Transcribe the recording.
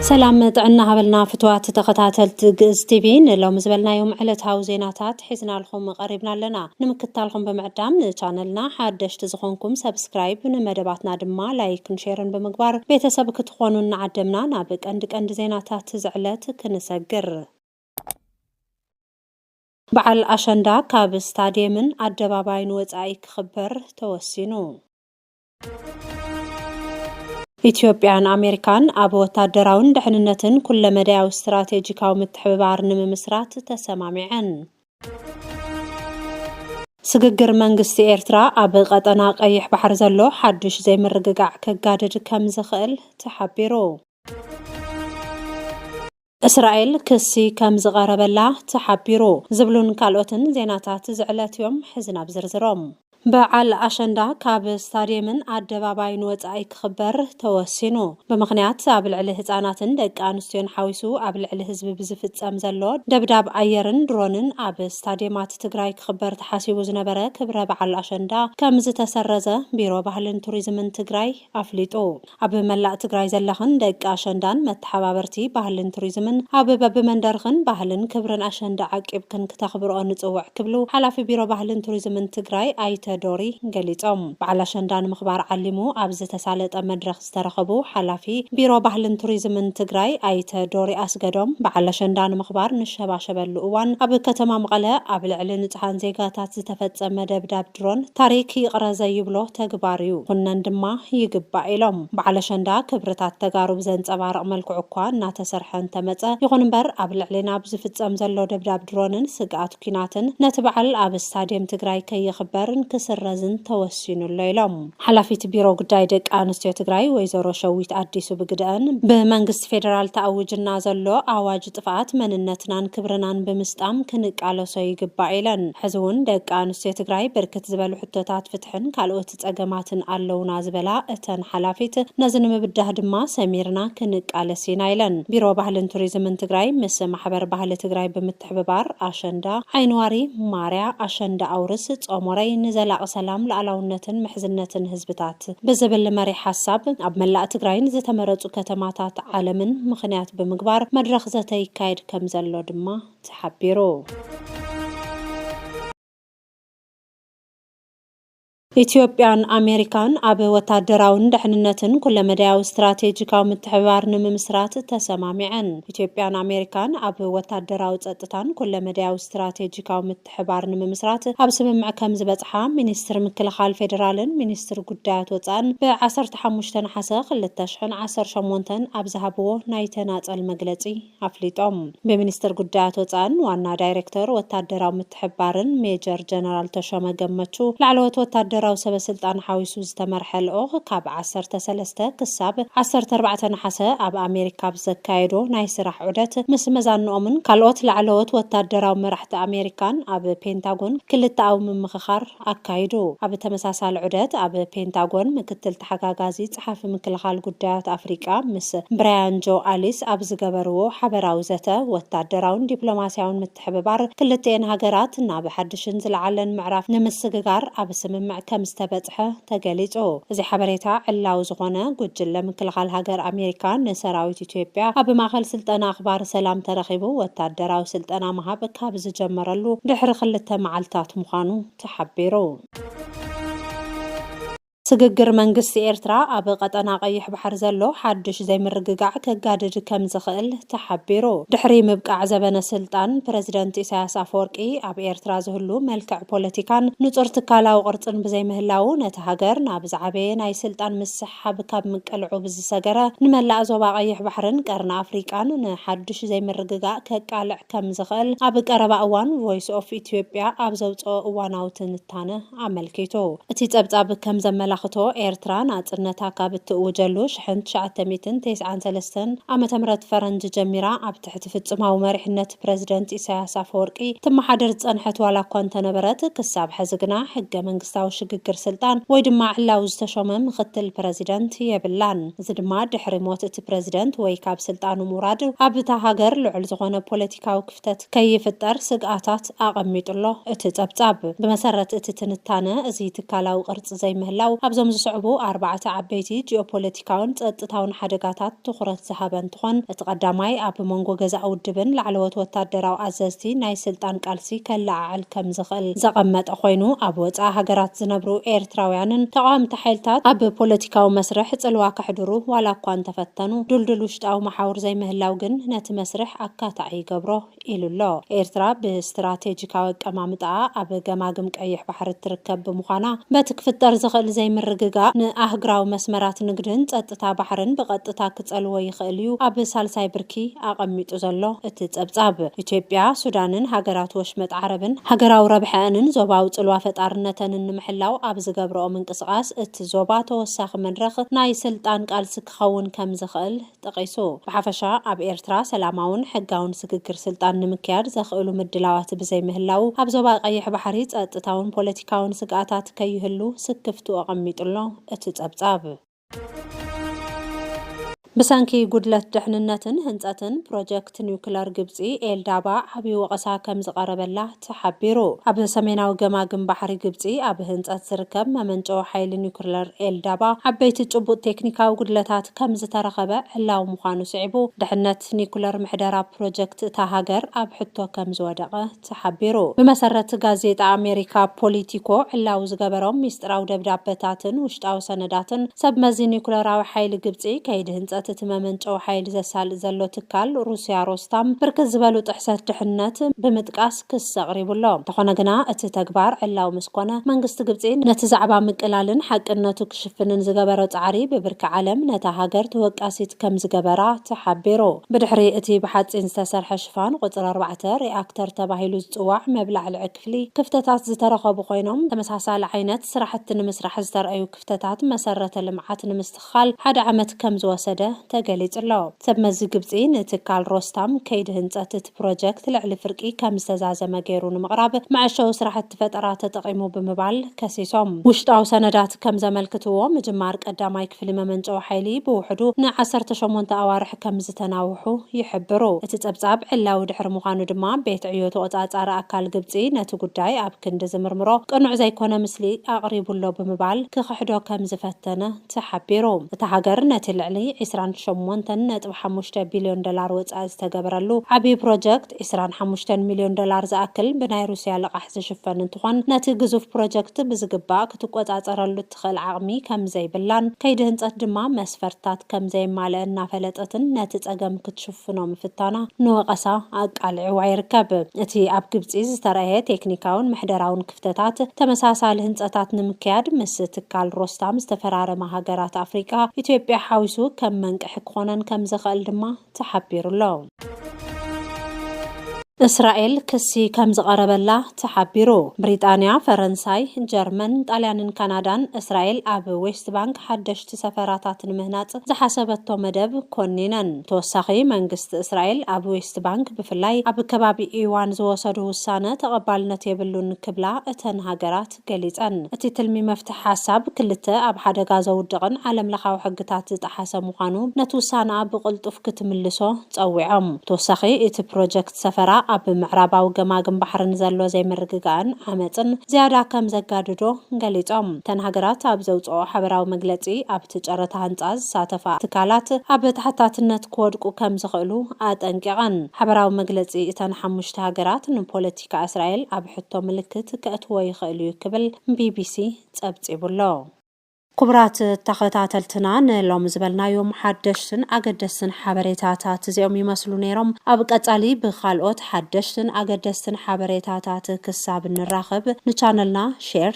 ሰላም ጥዕና ሃበልና ፍትዋት ተኸታተልቲ ግእዝ ቲቪ ንሎሚ ዝበልናዮም ዕለታዊ ዜናታት ሒዝናልኹም ቀሪብና ኣለና ንምክታልኹም ብምዕዳም ንቻነልና ሓደሽቲ ዝኾንኩም ሰብስክራይብ ንመደባትና ድማ ላይክን ሼርን ብምግባር ቤተሰብ ክትኾኑ እናዓደምና ናብ ቀንዲ ቀንዲ ዜናታት ዝዕለት ክንሰግር በዓል ኣሸንዳ ካብ ስታድየምን ኣደባባይን ወፃኢ ክኽበር ተወሲኑ። ኢትዮጵያን ኣሜሪካን ኣብ ወታደራውን ድሕንነትን ኩለመዳያዊ ስትራቴጂካዊ ምትሕብባር ንምምስራት ተሰማሚዐን። ስግግር መንግስቲ ኤርትራ ኣብ ቀጠና ቀይሕ ባሕሪ ዘሎ ሓዱሽ ዘይምርግጋዕ ከጋድድ ከምዝኽእል ተሓቢሩ። እስራኤል ክሲ ከም ዝቐረበላ ተሓቢሩ። ዝብሉን ካልኦትን ዜናታት እዚ ዕለት እዮም። ሕዚ ናብ ዝርዝሮም። በዓል ኣሸንዳ ካብ ስታድየምን ኣደባባይን ወፃኢ ክኽበር ተወሲኑ። ብምኽንያት ኣብ ልዕሊ ህፃናትን ደቂ ኣንስትዮን ሓዊሱ ኣብ ልዕሊ ህዝቢ ብዝፍፀም ዘሎ ደብዳብ ኣየርን ድሮንን ኣብ ስታድየማት ትግራይ ክኽበር ተሓሲቡ ዝነበረ ክብረ በዓል ኣሸንዳ ከምዝተሰረዘ ቢሮ ባህልን ቱሪዝምን ትግራይ ኣፍሊጡ። ኣብ መላእ ትግራይ ዘለኽን ደቂ ኣሸንዳን መተሓባበርቲ ባህልን ቱሪዝምን ኣብ በቢመንደርኽን ባህልን ክብርን ኣሸንዳ ዓቂብክን ክተኽብርኦ ንፅውዕ ክብሉ ሓላፊ ቢሮ ባህልን ቱሪዝምን ትግራይ ኣይተ ዶሪ ገሊፆም። በዓል ኣሸንዳ ንምኽባር ዓሊሙ ኣብ ዝተሳለጠ መድረኽ ዝተረኸቡ ሓላፊ ቢሮ ባህልን ቱሪዝምን ትግራይ ኣይተ ዶሪ ኣስገዶም በዓል ኣሸንዳ ንምኽባር ንሸባሸበሉ እዋን ኣብ ከተማ መቐለ ኣብ ልዕሊ ንፁሃን ዜጋታት ዝተፈፀመ ደብዳብ ድሮን ታሪክ ይቅረ ዘይብሎ ተግባር እዩ ክኹነን ድማ ይግባእ ኢሎም። በዓል ኣሸንዳ ክብርታት ተጋሩ ብዘንፀባርቅ መልክዑ እኳ እናተሰርሐ እንተመፀ ይኹን እምበር ኣብ ልዕሌና ብዝፍፀም ዘሎ ደብዳብ ድሮንን ስግኣት ኲናትን ነቲ በዓል ኣብ ስታድየም ትግራይ ከይኽበርን ክስረዝን ተወሲኑ ኣሎ ኢሎም። ሓላፊት ቢሮ ጉዳይ ደቂ ኣንስትዮ ትግራይ ወይዘሮ ሸዊት ኣዲሱ ብግደኣን፣ ብመንግስቲ ፌደራል ተኣዊጅና ዘሎ ኣዋጅ፣ ንጥፍኣት መንነትናን ክብርናን ብምስጣም ክንቃለሶ ይግባእ ኢለን። ሕዚ እውን ደቂ ኣንስትዮ ትግራይ ብርክት ዝበሉ ሕቶታት ፍትሕን ካልኦት ፀገማትን ኣለዉና ዝበላ እተን ሓላፊት፣ ነዚ ንምብዳህ ድማ ሰሚርና ክንቃለስ ኢና ኢለን። ቢሮ ባህልን ቱሪዝምን ትግራይ ምስ ማሕበር ባህሊ ትግራይ ብምትሕብባር ኣሸንዳ፣ ዓይኒዋሪ፣ ማርያ፣ ኣሸንዳ ኣውርስ፣ ፆሞረይ፣ ንዘላቒ ሰላም፣ ልኣላውነትን ምሕዝነትን ህዝብታት። ልምዓት ብዝብል መሪሕ ሓሳብ ኣብ መላእ ትግራይን ዝተመረፁ ከተማታት ዓለምን ምኽንያት ብምግባር መድረኽ ዘተ ይካየድ ከምዘሎ ድማ ተሓቢሩ። ኢትዮጵያን ኣሜሪካን ኣብ ወታደራውን ደሕንነትን ኩለመዳያዊ ስትራቴጂካዊ ምትሕብባር ንምምስራት ተሰማሚዐን። ኢትዮጵያን ኣሜሪካን ኣብ ወታደራዊ፣ ፀጥታን ኩለመዳያዊ ስትራቴጂካዊ ምትሕ ምትሕብባር ንምምስራት ኣብ ስምምዕ ከምዝበፅሓ ሚኒስትር ምክልኻል ፌዴራልን ሚኒስትር ጉዳያት ወፃእን ብ ዓሰርተ ሓሙሽተ ነሓሰ ክልተ ሽሕን ዓሰርተ ሸሞንተን ኣብ ዝሃብዎ ናይ ተናፀል መግለፂ ኣፍሊጦም። ብሚኒስትር ጉዳያት ወፃእን ዋና ዳይሬክተር ወታደራዊ ምትሕብባርን ሜጀር ጀነራል ተሾመ ገመቹ ላዕለዎት ወታደራዊ ሰበ ስልጣን ሓዊሱ ዝተመርሐ ልኡኽ ካብ ዓሰርተ ሰለስተ ክሳብ ዓሰርተ ኣርባዕተ ነሓሰ ኣብ ኣሜሪካ ኣብ ዘካየዶ ናይ ስራሕ ዑደት ምስ መዛንኦምን ካልኦት ላዕለዎት ወታደራዊ መራሕቲ ኣሜሪካን ኣብ ፔንታጎን ክልተኣዊ ምምኽኻር ኣካይዱ። ኣብ ተመሳሳሊ ዑደት ኣብ ፔንታጎን ምክትል ተሓጋጋዚ ጸሓፊ ምክልኻል ጉዳያት ኣፍሪቃ ምስ ብራያን ጆ ኣሊስ ኣብ ዝገበርዎ ሓበራዊ ዘተ ወታደራውን ዲፕሎማስያውን ብምትሕብባር ክልቲኤን ሃገራት ናብ ሓድሽን ዝለዓለን ምዕራፍ ንምስግጋር ኣብ ስምምዕ ከምዝተበጽሐ ተገሊጹ። እዚ ሓበሬታ ዕላዊ ዝኾነ፣ ጉጅለ ምክልኻል ሃገር ኣሜሪካ ንሰራዊት ኢትዮጵያ ኣብ ማእኸል ስልጠና ኣኽባሪ ሰላም ተረኺቡ ወታደራዊ ስልጠና ምሃብ ካብ ዝጀመረሉ ድሕሪ ክልተ መዓልታት ምዃኑ ተሓቢሩ። ስግግር መንግስቲ ኤርትራ ኣብ ቐጠና ቐይሕ ባሕሪ ዘሎ ሓድሽ ዘይምርግጋዕ ከጋድድ ከምዝኽእል ተሓቢሩ። ድሕሪ ምብቃዕ ዘበነ ስልጣን ፕረዚደንት ኢሳያስ ኣፈወርቂ፣ ኣብ ኤርትራ ዝህሉ መልክዕ ፖለቲካን ንጹር ትካላዊ ቅርጽን ብዘይምህላዉ፣ ነታ ሃገር ናብ ዝዓበየ ናይ ስልጣን ምስሕሓብ ካብ ምቅልዑ ብዝሰገረ ንመላእ ዞባ ቐይሕ ባሕርን ቀርኒ ኣፍሪቃን ንሓድሽ ዘይምርግጋእ ከቃልዕ ከም ዝኽእል ኣብ ቀረባ እዋን ቮይስ ኦፍ ኢትዮጵያ ኣብ ዘውጽኦ እዋናዊ ትንታነ ኣመልኪቱ። እቲ ጸብጻብ ከም ዘመላኽቶ፣ ኤርትራ ናጽነታ ካብ እትእውጀሉ ሽሕን ትሽዓተ ሚእትን ተስዓን ሰለስተን ዓመተ ምህረት ፈረንጂ ጀሚራ ኣብ ትሕቲ ፍጹማዊ መሪሕነት ፕረዚደንት ኢሳይያስ ኣፈወርቂ ትመሓደር ዝጸንሐት ዋላ እኳ እንተነበረት፣ ክሳብ ሕዚ ግና ሕገ-መንግስታዊ ሽግግር ስልጣን ወይ ድማ ዕላዊ ዝተሾመ ምኽትል ፕረዚደንት የብላን። እዚ ድማ ድሕሪ ሞት እቲ ፕረዚደንት ወይ ካብ ስልጣኑ ምውራድ ኣብ እታ ሃገር ልዑል ዝኾነ ፖለቲካዊ ክፍተት ከይፍጠር ስግኣታት ኣቐሚጡ ኣሎ። እቲ ጸብጻብ። ብመሰረት እቲ ትንታነ፣ እዚ ትካላዊ ቅርጺ ዘይምህላው ኣብዞም ዝስዕቡ ኣርባዕተ ዓበይቲ ጂኦፖለቲካውን ጸጥታውን ሓደጋታት ትኹረት ዝሃበ እንትኾን፣ እቲ ቀዳማይ ኣብ መንጎ ገዛኢ ውድብን ላዕለዎት ወታደራዊ ኣዘዝቲ ናይ ስልጣን ቃልሲ ከለዓዕል ከም ዝኽእል ዘቐመጠ ኮይኑ፣ ኣብ ወጻኢ ሃገራት ዝነብሩ ኤርትራውያንን ተቓወምቲ ሓይልታት ኣብ ፖለቲካዊ መስርሕ ጽልዋ ከሕድሩ ዋላ እኳ እንተፈተኑ፣ ድልዱል ውሽጣዊ መሓውር ዘይምህላው ግን ነቲ መስርሕ ኣካታዒ ይገብሮ ኢሉ ኣሎ። ኤርትራ ብስትራቴጂካዊ ኣቀማምጣኣ ኣብ ገማግም ቀይሕ ባሕሪ እትርከብ ብምዃና፣ በቲ ክፍጠር ዝኽእል ዘይምርግጋእ ንኣህግራዊ መስመራት ንግድን ጸጥታ ባሕርን ብቐጥታ ክጸልዎ ይኽእል እዩ ኣብ ሳልሳይ ብርኪ ኣቐሚጡ ዘሎ እቲ ጸብጻብ። ኢትዮጵያ፣ ሱዳንን ሃገራት ወሽመጥ ዓረብን ሃገራዊ ረብሐኣንን ዞባዊ ጽልዋ ፈጣርነተንን ንምሕላው ኣብ ዝገብረኦ ምንቅስቓስ እቲ ዞባ ተወሳኺ መድረኽ ናይ ስልጣን ቃልሲ ክኸውን ከም ዝኽእል ጠቒሱ። ብሓፈሻ ኣብ ኤርትራ ሰላማውን ሕጋውን ስግግር ስልጣን ንምክያድ ዘኽእሉ ምድላዋት ብዘይምህላዉ ኣብ ዞባ ቀይሕ ባሕሪ ጸጥታውን ፖለቲካውን ስግኣታት ከይህሉ ስክፍትኡ ኣቐሚጡ ኣሎ እቲ ጸብጻብ። ብሰንኪ ጉድለት ድሕንነትን ህንፀትን ፕሮጀክት ኒውክለር ግብፂ ኤልዳባ ዓብዪ ወቐሳ ከምዝቐረበላ ተሓቢሩ። ኣብ ሰሜናዊ ገማግም ባሕሪ ግብፂ ኣብ ህንፀት ዝርከብ መመንጨዊ ሓይሊ ኒውክለር ኤልዳባ ዓበይቲ ጭቡጥ ቴክኒካዊ ጉድለታት ከምዝተረኸበ ዕላዊ ምዃኑ ስዒቡ ድሕነት ኒውክለር ምሕደራ ፕሮጀክት እታ ሃገር ኣብ ሕቶ ከምዝወደቐ ተሓቢሩ። ብመሰረት ጋዜጣ ኣሜሪካ ፖሊቲኮ ዕላዊ ዝገበሮም ሚስጢራዊ ደብዳበታትን ውሽጣዊ ሰነዳትን፣ ሰብ መዚ ኒዩክለራዊ ሓይሊ ግብጺ፣ ከይዲ ህንፀት እቲ መመንጨዊ ሓይሊ ዘሳልጥ ዘሎ ትካል ሩሲያ ሮስታም፣ ብርክት ዝበሉ ጥሕሰት ድሕነት ብምጥቃስ ክሲ ኣቕሪቡ ኣሎ። እንተኾነ ግና እቲ ተግባር ዕላዊ ምስ ኮነ፣ መንግስቲ ግብጺ ነቲ ዛዕባ ምቅላልን ሓቅነቱ ክሽፍንን ዝገበሮ ፃዕሪ ብብርኪ ዓለም ነታ ሃገር ተወቃሲት ከምዝገበራ ተሓቢሩ። ብድሕሪ እቲ ብሓፂን ዝተሰርሐ ሽፋን ቁጽሪ ኣርባዕተ፣ ሪኣክተር ተባሂሉ ዝጽዋዕ መብላዕልዒ ክፍሊ፣ ክፍተታት ዝተረኸቡ ኮይኖም፣ ተመሳሳሊ ዓይነት ስራሕቲ ንምስራሕ ዝተርኣዩ ክፍተታት መሰረተ ልምዓት ንምስትኽኻል ሓደ ዓመት ከምዝወሰደ ተገሊጹ'ሎ። ሰብ መዚ ግብጺ ንትካል ሮስታም ከይዲ ህንጸት እቲ ፕሮጀክት ልዕሊ ፍርቂ ከምዝተዛዘመ ገይሩ ንምቕራብ መዐሸዊ ስራሕቲ ፈጠራ ተጠቒሙ ብምባል፣ ከሲሶም። ውሽጣዊ ሰነዳት ከም ዘመልክትዎ፣ ምጅማር ቀዳማይ ክፍሊ መመንጨዊ ሓይሊ ብውሕዱ ን ዓሰርተ ሸሞንተ ኣዋርሕ ከም ዝተናውሑ ይሕብሩ። እቲ ጸብጻብ ዕላዊ ድሕሪ ምዃኑ ድማ፣ ቤት ዕዮ ተቖጻጻሪ ኣካል ግብጺ ነቲ ጉዳይ ኣብ ክንዲ ዝምርምሮ፣ ቅኑዕ ዘይኮነ ምስሊ ኣቕሪቡ'ሎ ብምባል ክኽሕዶ ከም ዝፈተነ ተሓቢሩ። እታ ሃገር ነቲ ልዕሊ ዕስራን ሸሞንተን ነጥቢ ሓሙሽተ ቢልዮን ዶላር ወጻኢ ዝተገበረሉ ዓቢ ፕሮጀክት፣ ዓመት ዕስራን ሓሙሽተን ሚልዮን ዶላር ዝኣክል ብናይ ሩስያ ልቓሕ ዝሽፈን እንትኾን ነቲ ግዙፍ ፕሮጀክት ብዝግባእ ክትቆፃፀረሉ እትኽእል ዓቕሚ ከምዘይብላን ከይዲ ህንፀት ድማ መስፈርትታት ከምዘየማለአ እናፈለጠትን ነቲ ፀገም ክትሽፍኖ ምፍታና ንወቐሳ ኣቃሊዕዋ ይርከብ። እቲ ኣብ ግብፂ ዝተርኣየ ቴክኒካውን ምሕደራውን ክፍተታት ተመሳሳሊ ህንፀታት ንምክያድ ምስ ትካል ሮስታም ዝተፈራረማ ሃገራት ኣፍሪቃ ኢትዮጵያ ሓዊሱ ከም መንቅሒ ክኾነን ከምዘኸእል ድማ ተሓቢሩ'ሎ። እስራኤል ክሲ ከምዝቐረበላ ተሓቢሩ። ብሪጣንያ፣ ፈረንሳይ፣ ጀርመን፣ ጣልያንን ካናዳን እስራኤል ኣብ ዌስት ባንክ ሓደሽቲ ሰፈራታት ንምህናጽ ዝሓሰበቶ መደብ ኮኒነን። ብተወሳኺ መንግስቲ እስራኤል ኣብ ዌስት ባንክ ብፍላይ ኣብ ከባቢ ኢዋን ዝወሰዱ ውሳነ ተቐባልነት የብሉን ክብላ እተን ሃገራት ገሊጸን። እቲ ትልሚ መፍትሒ ሓሳብ ክልተ ኣብ ሓደጋ ዘውድቕን ዓለምለኻዊ ሕግታት ዝጠሓሰ ምዃኑ ነቲ ውሳነኣ ብቕልጡፍ ክትምልሶ ጸዊዖም። ብተወሳኺ እቲ ፕሮጀክት ሰፈራ ኣብ ምዕራባዊ ገማግም ባሕሪ ንዘሎ ዘይምርግጋእን ዓመጽን ዝያዳ ከም ዘጋድዶ ገሊጾም። እተን ሃገራት ኣብ ዘውጽኦኦ ሓበራዊ መግለጺ ኣብቲ ጨረታ ህንጻ ዝሳተፋ ትካላት ኣብ ተሓታትነት ክወድቁ ከም ዝኽእሉ ኣጠንቂቐን። ሓበራዊ መግለጺ እተን ሓሙሽተ ሃገራት ንፖለቲ። ኣመሪካ እስራኤል ኣብ ሕቶ ምልክት ከእትዎ ይኽእል እዩ ክብል ቢቢሲ ፀብፂቡ ኣሎ። ክቡራት ተኸታተልትና ንሎሚ ዝበልናዮም ሓደሽትን ኣገደስትን ሓበሬታታት እዚኦም ይመስሉ ነይሮም። ኣብ ቀፃሊ ብኻልኦት ሓደሽትን ኣገደስትን ሓበሬታታት ክሳብ እንራኸብ ንቻነልና ሼር፣